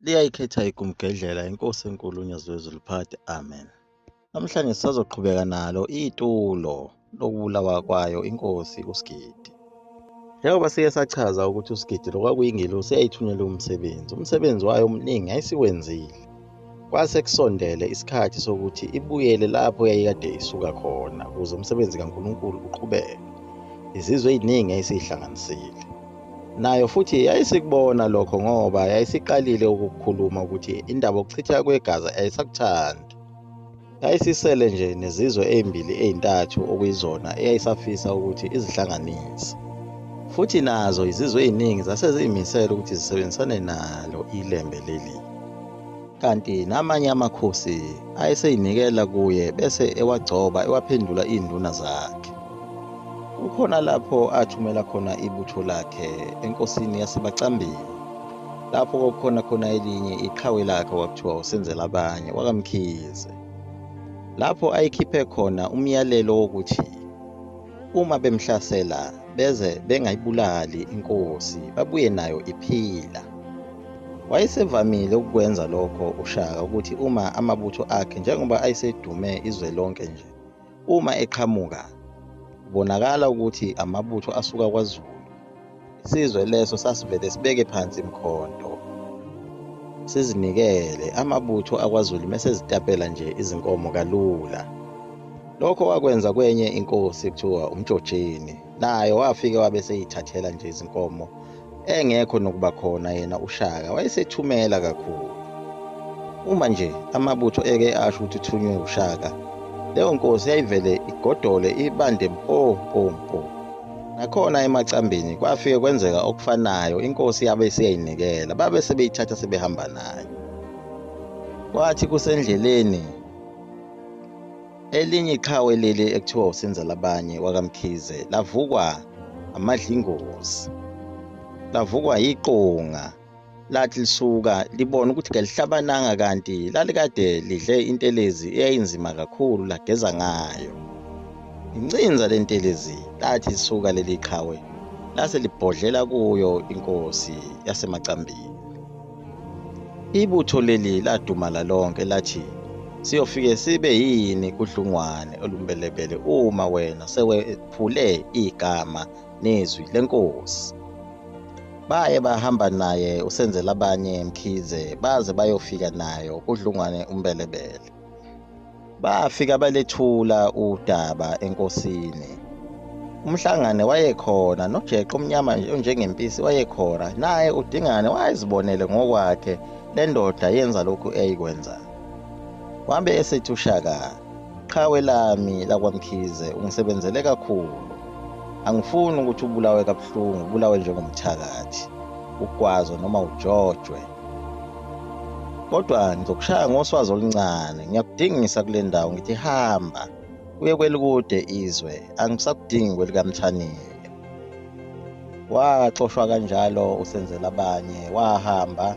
liyayikhetha ikumgedlela inkosi enkulu unyazwezi luphathe amen namhlanje sisazoqhubeka nalo itulo lokubulawa kwayo inkosi usigidi njengoba siye sachaza ukuthi usigidi lokwakuyingelosi yayithunyelwe umsebenzi umsebenzi wayo omningi yayisiwenzile kwase kusondele isikhathi sokuthi ibuyele lapho yayikade isuka khona ukuze umsebenzi kankulunkulu uqhubeke izizwe eziningi yayisiyihlanganisile nayo futhi yayisikubona lokho ngoba yayisiqalile ukukhuluma ukuthi indaba okuchitha kwegazi ayisakuthandi yayisisele nje nezizwe ezimbili ezintathu okuyizona eyayisafisa ukuthi izihlanganise futhi nazo izizwe eziningi zase ziyimisele ukuthi zisebenzisane nalo ilembe leli kanti namanye amakhosi ayeseyinikela kuye bese ewagcoba ewaphendula iy'nduna zakhe kukhona lapho athumela khona ibutho lakhe enkosini yasebacambini lapho kwakukhona khona elinye iqhawe lakhe kwakuthiwa usenzela abanye wakamkhize lapho ayikhiphe khona umyalelo wokuthi uma bemhlasela beze bengayibulali inkosi babuye nayo iphila wayesevamile ukukwenza lokho ushaka ukuthi uma amabutho akhe njengoba ayesedume izwe lonke nje uma eqhamuka kubonakala ukuthi amabutho asuka kwazulu Isizwe leso sasivele sibeke phansi imkhonto. Sizinikele amabutho akwaZulu mesezitapela nje izinkomo kalula. Lokho wakwenza kwenye inkosi kuthiwa uMjojeni. Naye wafike wabe seyithathela nje izinkomo engekho nokuba khona yena uShaka wayesethumela kakhulu. Uma nje amabutho eke asho ukuthi uthunywe uShaka leyo nkosi yayivele igodole ibande mpo mpo mpo Nakhona emacambini kwafike kwenzeka okufanayo inkosi yabe isiyayinikela babe sebeyithatha sebehamba nayo. Kwathi kusendleleni elinye iqhawe leli ekuthiwa usenza labanye wakamkhize lavukwa amadlingozi lavukwa yiqonga lathi lisuka libona ukuthi kelihlabananga kanti lalikade lidle intelezi eyayinzima kakhulu lageza ngayo incinza lentelezi lathi lisuka leli qhawe lase libhodlela kuyo inkosi yasemacambini ibutho leli ladumala lonke lathi siyofike sibe yini kudlungwane olumbelebele uma wena sewephule igama nezwi lenkosi. Baye bahamba naye usenzela abanye Mkhize baze bayofika nayo kudlungwane umbelebele. Bafika balethula udaba enkosini. Umhlangane wayekhona nojeqo omnyama nje onjengempisi wayekhona naye udingane wayezibonele ngokwakhe lendoda yenza lokhu eyikwenza. Wabe esethi ushaka Qhawe lami lakwaMkhize ungisebenzele kakhulu. Angifuni ukuthi ubulawe kabuhlungu, ubulawe njengomthakathi, ugwazwe noma ujojwe. Kodwa ngizokushaya ngoswazi oluncane, ngiyakudingisa kule ndawo ngithi hamba uye kwelikude izwe, angisakudingi kwelikaMthanile. Waxoshwa kanjalo usenzela abanye, wahamba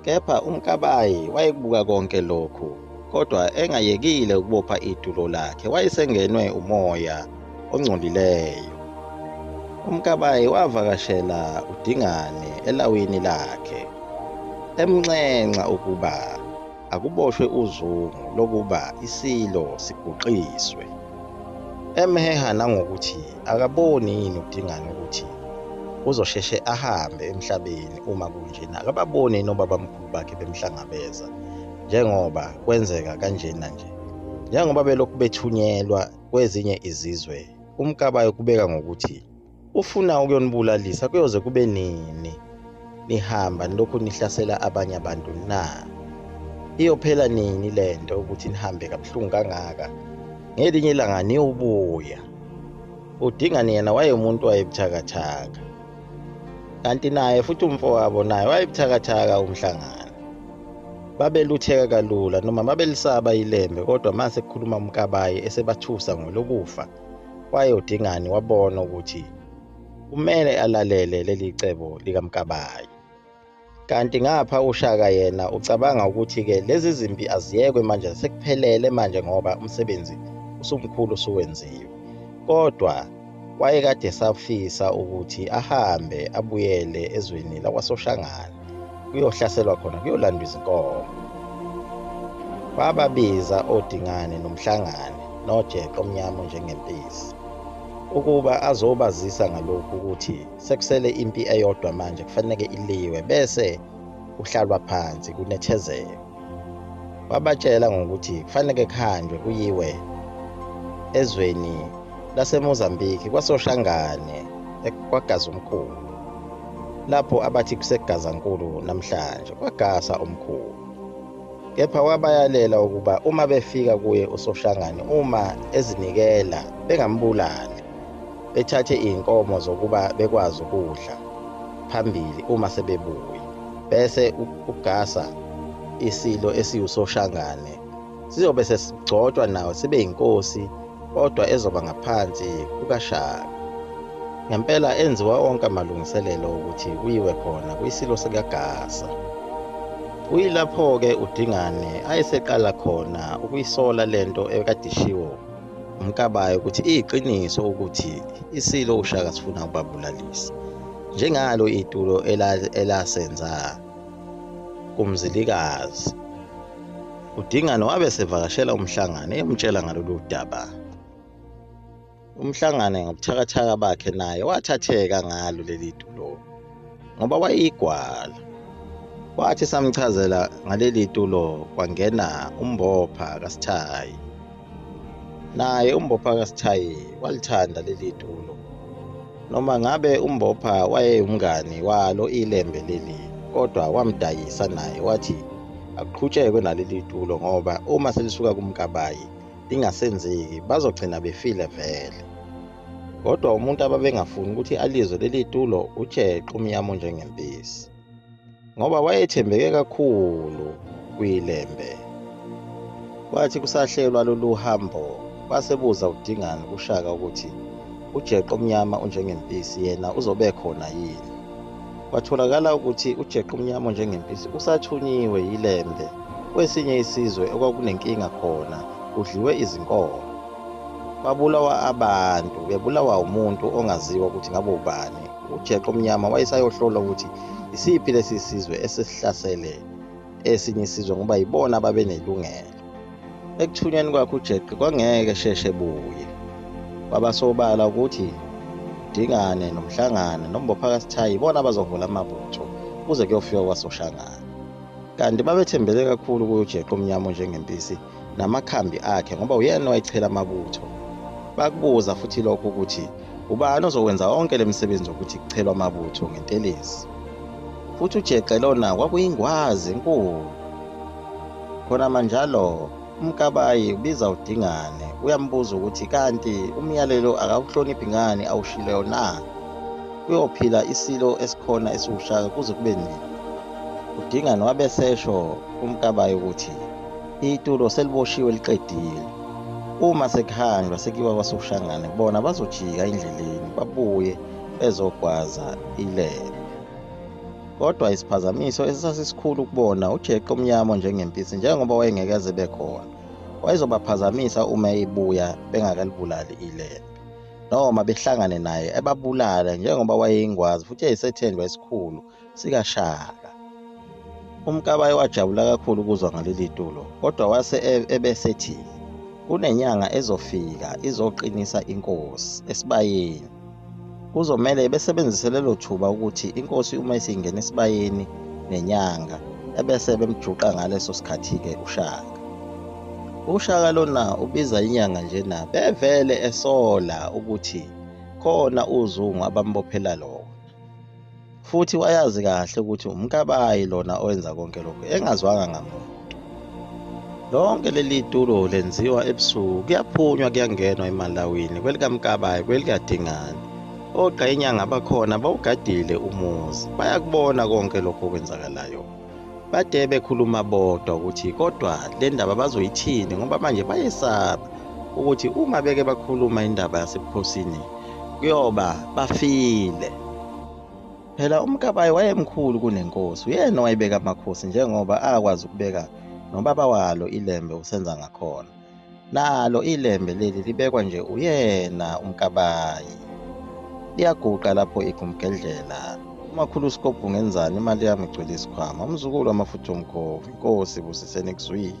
Kepha uMkabayi wayekubuka konke lokhu, kodwa engayekile ukubopha itulo lakhe, wayesengenwe umoya ongcolileyo. UMkabayi wavakashela uDingane elawini lakhe, emnxenxa ukuba akuboshwe uzungu lokuba isilo siguqiswe, emheha nangokuthi Akaboni yini uDingane ukuthi uzosheshe ahambe emhlabeni uma kunjena? Akababoni yini obabamkhulu bakhe bemhlangabeza njengoba kwenzeka kanjena nje? Njengoba belokhu bethunyelwa kwezinye izizwe, uMkabayi ukubeka ngokuthi ufuna ukuyonibulalisa kuyoze kube nini? nihamba nilokhu nihlasela abanye abantu na iyophela nini le nto ukuthi nihambe kabuhlungu kangaka ngelinye ilanga niyobuya udingani yena wayemuntu wayebuthakathaka kanti naye futhi umfowabo naye wayebuthakathaka umhlangano babelutheka kalula noma babelisaba ilembe kodwa uma sekukhuluma umkabayi esebathusa ngolokufa wayodingani wabona ukuthi kumele alalele leli cebo likamkabayi kanti ngapha ushaka yena ucabanga ukuthi-ke lezi zimpi aziyekwe manje sekuphelele manje ngoba umsebenzi usumkhulu usuwenziwe kodwa wayekade safisa ukuthi ahambe abuyele ezweni lakwasoshangane kuyohlaselwa khona kuyolandwa izinkomo wababiza odingane nomhlangane nojeqo omnyama njengempisi ukuba azobazisa ngalokhu ukuthi sekusele impi eyodwa manje kufanele iliwe bese uhlalwa phansi kunethezeke wabatshela ngokuthi kufanele kuhanjwe kuyiwe ezweni laseMozambique kwasoshangane kwagaza umkhulu lapho abathi kusegazankulu namhlanje kwagasa umkhulu kepha wabayalela ukuba uma befika kuye uSoshangane uma ezinikela bengambulali bethathe izinkomo zokuba bekwazi ukudla phambili uma sebebuye bese ugasa isilo esiwusoshangane sizobe sesigcotshwa nawo sibe yinkosi kodwa ezoba ngaphansi kukaShaka. Ngempela enziwa onke amalungiselelo ukuthi kuyiwe khona kwisilo sikaGasa. Kuyilapho-ke uDingane ayeseqala khona ukuyisola le nto ekade ishiwo uMkabayi ukuthi iyiqiniso ukuthi isilo uShaka sifuna ukubabulalisa njengalo itulo elasenza kumzilikazi UDingane wabe sevakashela uMhlangane emtshela ngalolu daba. UMhlangane ngobuthakathaka bakhe naye wathatheka ngalo leli tulo ngoba wayeyigwala. Wathi samchazela ngaleli tulo kwangena umbopha kaSithayi. Naye umbopha kaSithayi walithanda leli tulo. Noma ngabe uMbopha wayeyumngani walo ilembe leli kodwa wamdayisa naye wathi akuqhutshekwe naleli tulo ngoba uma selisuka kumkabayi lingasenzeki bazogcina befile vele kodwa umuntu ababengafuni ukuthi alizwe leli tulo utsheqe umyamo njengempisi ngoba wayethembeke kakhulu kwilembe. Kwathi kusahlelwa lolu hambo basebuza uDingane kuShaka ukuthi ujeqe omnyama unjengempisi yena uzobe khona yini. Kwatholakala ukuthi ujeqe omnyama onjengempisi usathunyiwe yilembe kwesinye isizwe okwakunenkinga khona kudliwe izinkomo. Babulawa abantu bebulawa umuntu ongaziwa ukuthi ngabe ubani ujeqo omnyama wayesayohlola ukuthi isiphi lesi sizwe esesihlasele esinye isizwe ngoba yibona ababenelungelo ekuthunyweni kwakhe ujeqe kwangeke sheshe buye kwabasobala ukuthi dingane nomhlangane nombophakasithayi ibona abazovula amabutho kuze kuyofika kwasoshangane kanti babethembele kakhulu kuyojeqe omnyama njengempisi namakhambi akhe ngoba uyena owayechela amabutho bakubuza futhi lokho ukuthi ubani ozokwenza onke le misebenzi yokuthi kuchelwa amabutho ngentelezi futhi ujexe lona kwakuyingwazi enkulu khona manjalo umkabayi ubiza udingane uyambuza ukuthi kanti umyalelo akawuhloniphi ngani awushileyo na kuyophila isilo esikhona esiwushaka kuze kube nini udingane wabesesho umkabayi ukuthi itulo seliboshiwe liqedile uma sekuhanjwa sekuyiwa kwasoshangane bona bazojika endleleni babuye bezogwaza ilele kodwa isiphazamiso esasisikhulu kubona ujeqe omnyama njengempisi njengoba wayengeke aze bekhona wayezobaphazamisa uma ebuya bengakalibulali ilele noma behlangane naye ebabulale njengoba wayeyingwazi futhi eyisethendwa esikhulu sikaShaka. UMkabayi wajabula kakhulu ukuzwa ngaleli tulo kodwa wase e-, ebesethi kunenyanga ezofika izoqinisa inkosi esibayeni. Kuzomele besebenzise lelo thuba ukuthi inkosi uma isingena esibayeni nenyanga ebese bemjuqa ngaleso sikhathi-ke uShaka. UShaka lona ubiza inyanga njena bevele esola ukuthi khona uzungu abambophela lona. futhi wayazi kahle ukuthi umkabayi lona owenza konke lokhu engazwanga ngamuntu lonke leli tulo lenziwa ebusuku kuyaphunywa kuyangenwa emalawini kwelikamkabayi kwelikadingane ogqa inyanga bakhona bawugadile umuzi bayakubona konke lokhu okwenzakalayo Bade bekhuluma bodwa ukuthi kodwa le ndaba bazoyithini ngoba manje bayesaba ukuthi uma beke bakhuluma indaba yasebukhosini kuyoba bafile. Phela uMkabayi wayemkhulu kunenkosi, uyena owayebeka amakhosi njengoba akwazi ukubeka nobaba walo iLembe uSenzangakhona. Nalo ilembe leli libekwa nje uyena umkabayi. Liyaguqa lapho igumgedlela. Umakhulu uSkobhu ngenzani imali yami igcwele isikhwama. Umzukulu amafutha omkhovu. Inkosi busiseni kuzwile.